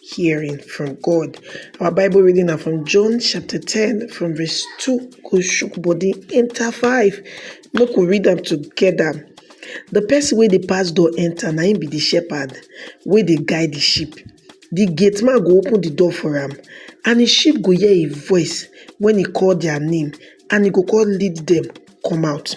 hearing from God. Our Bible reading now from John chapter 10, from verse 2, go shook body, enter 5. Look, we read them together. The person where the pass door enter, na him be the shepherd, where they guide the sheep. The gate man go open the door for him, and the sheep go hear a voice when he call their name, and he go call lead them come out.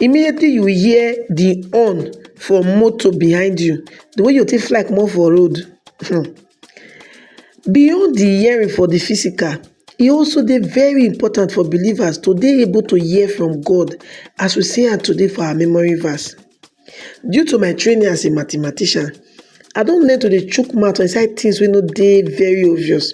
immediately you hear the horn for motor behind you the way you take fly comot for road hmm, beyond the hearing for the physical e also dey very important for believers to dey able to hear from God as we see am today for our memory verse due to my training as a mathematician I don learn to dey chook mouth for inside things wey no dey very obvious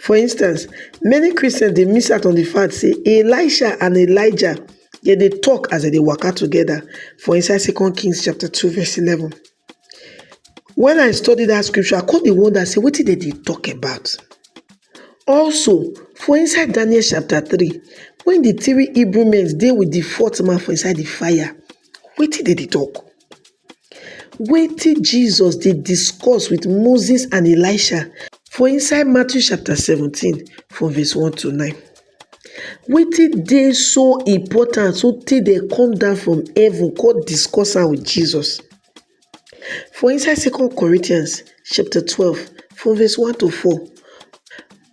for instance many Christians dey miss out on the fact say Elisha and Elijah dem dey talk as dem dey waka together for inside second king chapter two verse eleven when I study that scripture I come dey wonder say wetin dem dey talk about also for inside Daniel chapter three when the three Hebrew men dey with the fourth man for inside the fire wetin dem dey talk Wetin Jesus dey discuss with Moses and Elisha for inside Matthew chapter seventeen from verse one to nine. Wetin dey so important so tey dem come down from heaven come discuss am with Jesus. For inside second Corinthians chapter twelve from verse one to four,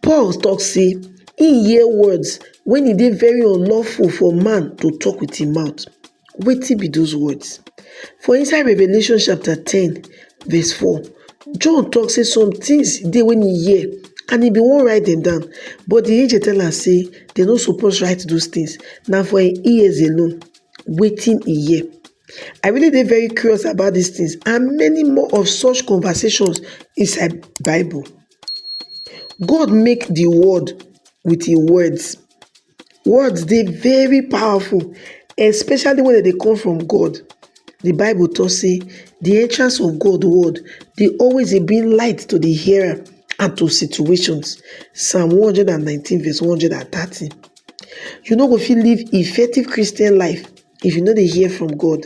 Paul talk say he hear words when e dey very unlawful for man to talk with im mouth. Wetin be those words? For inside Revelation chapter 10 verse 4, John talk say some things dey when he hear and he be won't write them down but the angel tell am say they no suppose write those things Now for im ears alone Waiting he hear. I really dey very curious about these things and many more of such conversations inside Bible. God make the world with his words. Words dey very powerful especially when dem dey come from God. The bible talk say the entrance of God word dey always dey bring light to the hearer and to situations psalm one hundred and nineteen verse one hundred and thirty. You no go fit live effective Christian life if you no dey hear from God.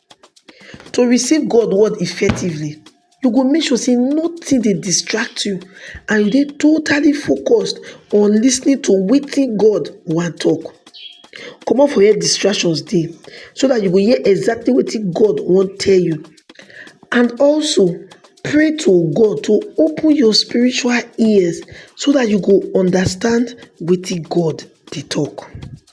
To receive God word effectively, you go make sure sey nothing dey distract you and you dey totally focused on lis ten ing to wetin God wan talk. Comot for where distractions dey so dat you go hear exactly wetin God wan tell you and also pray to God to open your spiritual ears so dat you go understand wetin God dey talk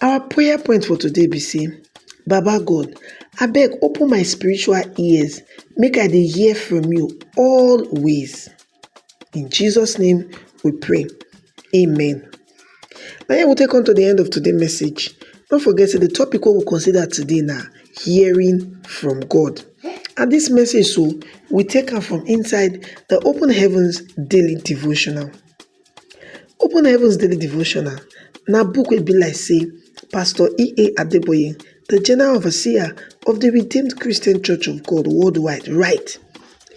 Our prayer point for today be sey baba God abeg open my spiritual ears make I dey hear from you always in Jesus name we pray amen na here we take come to the end of today message no forget sey the topic wey we consider today na hearing from God and this message so we take am from inside the open heavens daily devotional. Open Heavens Daily Devotional na book wey be like sey Pastor E.A. Adeboye, the General Overseer of the Redeemed Christian Church of God worldwide write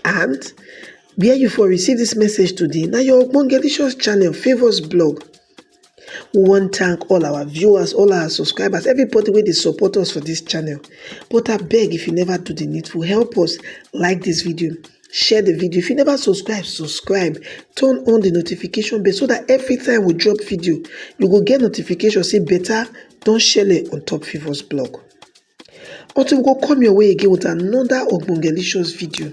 and where you for receive this message today na your Ogbongelicious channel Favours blog. We wan thank all our viewers, all our subscribers, everybody wey dey support us for this channel. But abeg if you never do the needful, help us like this video, share the video if you never subscribe subscribe turn on the notification bell so that every time we drop video you go get notification say better don shele on top favours blog until we go come your way again with another ogbongelicious video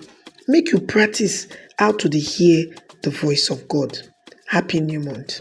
make you practice how to dey hear the voice of god happy new month